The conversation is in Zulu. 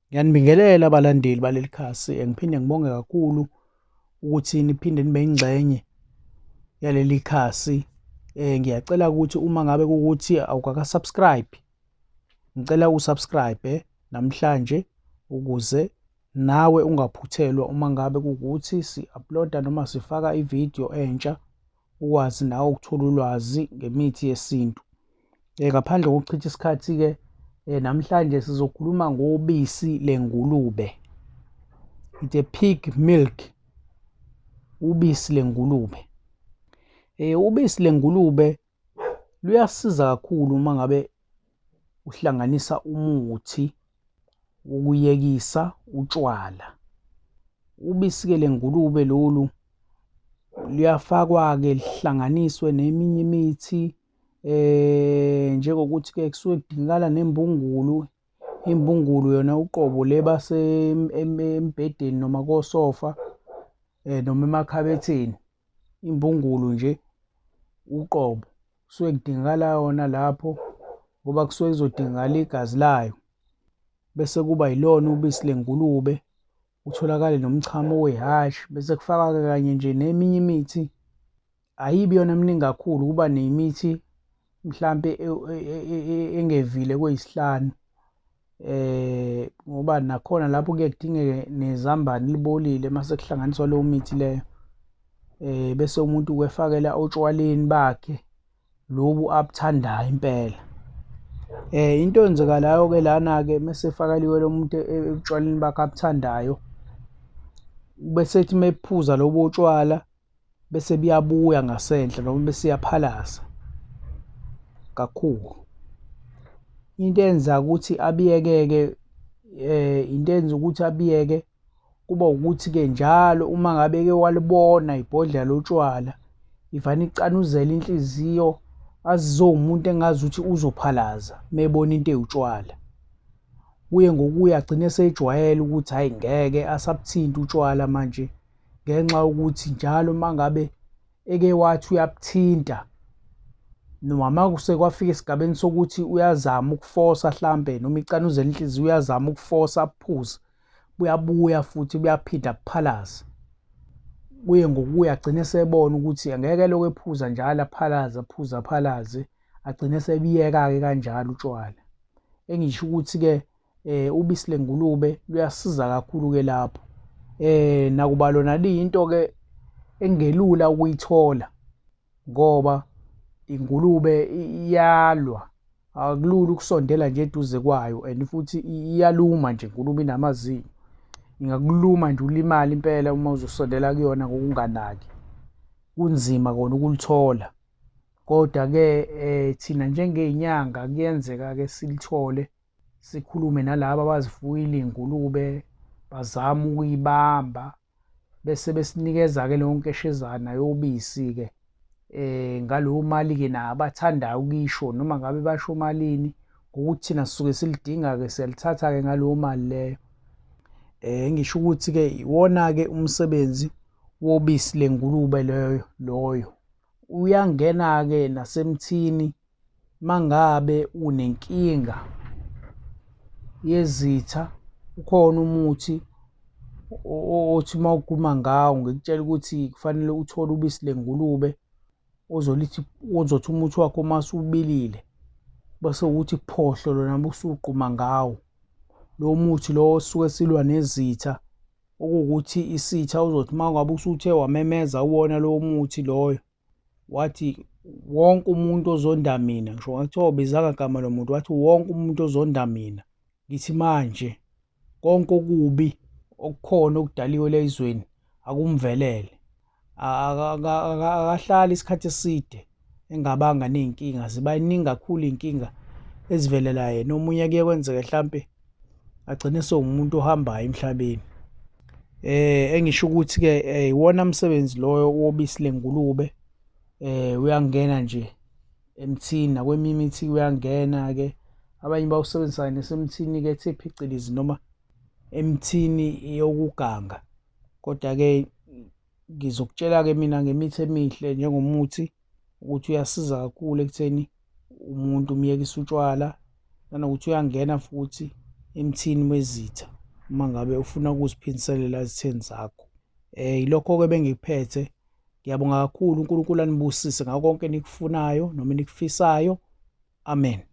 Ngiyanibingelela abalandeli baleli khasi ngiphinde ngibonge kakhulu ukuthi niphinde nibe ingxenye yaleli khasi eh ngiyacela ukuthi uma ngabe ukuthi awukaka subscribe ngicela usubscribe namhlanje ukuze nawe ungaphuthelwa uma ngabe kukuthi si-uploada noma sifaka ividiyo entsha ukwazi nawe ukuthola ulwazi ngemithi yesintu. Eh, ngaphandle kokuchitha isikhathi-ke eh, namhlanje sizokhuluma ngobisi lengulube. It's a pig milk, ubisi lengulube. Eh, ubisi lengulube luyasiza kakhulu uma ngabe uhlanganisa umuthi ukuyekisa utshwala ubisi-ke lengulube lolu luyafakwa-ke lihlanganiswe neminye imithi eh njengokuthi-ke kusuke kudingakala nembungulu imbungulu yona uqobo le basembhedeni noma kosofa eh noma emakhabetheni imbungulu nje uqobo kusuke kudingakala yona lapho ngoba kusuke kuzodingakala igazi layo bese kuba yilona ubisi lengulube utholakale nomchamo wehhashi bese kufaka-ke kanye nje neminye imithi ayibi yona miningi kakhulu kuba nemithi mhlampe e, e, e, engevile koyisihlanu eh ngoba nakhona lapho kuye kudingeke nezambane libolile mase kuhlanganiswa leyo mithi leyo eh bese umuntu kwefakela otshwaleni bakhe lobu abuthandayo impela eh into enzekalayo ke lana ke mase fakaliwe lo muntu ekutshwaleni bakhe abuthandayo bese ethi mephuza lobo tshwala bese buyabuya ngasendle noma besiyaphalaza kakhulu into enza ukuthi abiyekeke eh into enza ukuthi abiyeke kuba ukuthi ke njalo uma ngabe ke walibona ibhodlela lotshwala ivana icanuzela inhliziyo azizowumuntu engazi ukuthi uzophalaza mebona into ewutshwala kuye ngokuya agcine sejwayele ukuthi hayi ngeke asabuthinti utshwala manje ngenxa yokuthi njalo uma ngabe eke wathi uyakuthinta noma uma sekwafika esigabeni sokuthi uyazama ukufosa hlampe noma icanuze inhliziyo uyazama ukufosa aphuze buyabuya futhi buyaphinda kuphalaze kuye ngokuya agcine esebona ukuthi angeke lokho ephuza njalo aphalaze aphuze aphalaze agcine sebiyeka-ke kanjalo utshwala engisho ukuthi-ke eh ubisi lengulube luyasiza kakhulu ke lapho eh nakuba lona liyinto ke engelula ukuyithola ngoba ingulube iyalwa akulula ukusondela nje eduze kwayo and futhi iyaluma nje ingulube inamazinyo ingakuluma nje ulimale impela uma uzosondela kuyona ngokunganaki kunzima kona ukulithola kodwa-ke um thina njengey'nyanga kuyenzeka-ke silithole sikhulume nalabo abazifuyile iy'ngulube bazame ukuyibamba bese besinikeza-ke leyo nkeshezana yobisi-ke eh ngalowo mali-ke na abathandayo ukuyisho noma ngabe basho malini ngokuthi thina sisuke silidinga-ke siyalithatha-ke ngaleyo mali leyo eh ngisho ukuthi-ke iwona-ke umsebenzi wobisi lengulube leyo loyo uyangena-ke nasemthini mangabe unenkinga yezitha ukhona umuthi othi uma uguma ngawo ngikutshela ukuthi kufanele uthole ubisi lengulube ozolithi ozothi umuthi wakho uma usubilile bese ukuthi phohlo lona busugquma ngawo lo muthi lo osuke silwa nezitha okuwukuthi isitha uzothi uma ngabe usuthe wamemeza uwona lowo muthi loyo wathi wonke umuntu ozonda mina ngisho ngathiwa ubizanga gama lo muntu wathi wonke umuntu ozonda mina ngithi manje konke okubi okukhona okudaliwe la ezweni akumvelele akahlali isikhathi eside engabanga ney'nkinga ziba ningi kakhulu iy'nkinga ezivelela yena omunye kuye kwenzeke hlampe agcine sewumuntu ohambayo emhlabeni eh engisho ukuthi ke eh, iwona msebenzi loyo wobisi lengulube eh uyangena nje emthini nakweminye imithi uyangena ke abanye bawusebenzisa nesemthini ke ethe phicilizi noma emthini yokuganga kodwa ke ngizokutshela ke mina ngemithi emihle njengomuthi ukuthi uyasiza kakhulu ekutheni umuntu umyekisa utshwala nanokuthi uyangena futhi emthini wezitha uma ngabe ufuna ukuziphindiselela ezitheni zakho um yilokho-ke bengikuphethe ngiyabonga kakhulu unkulunkulu anibusise ngako konke enikufunayo noma enikufisayo amen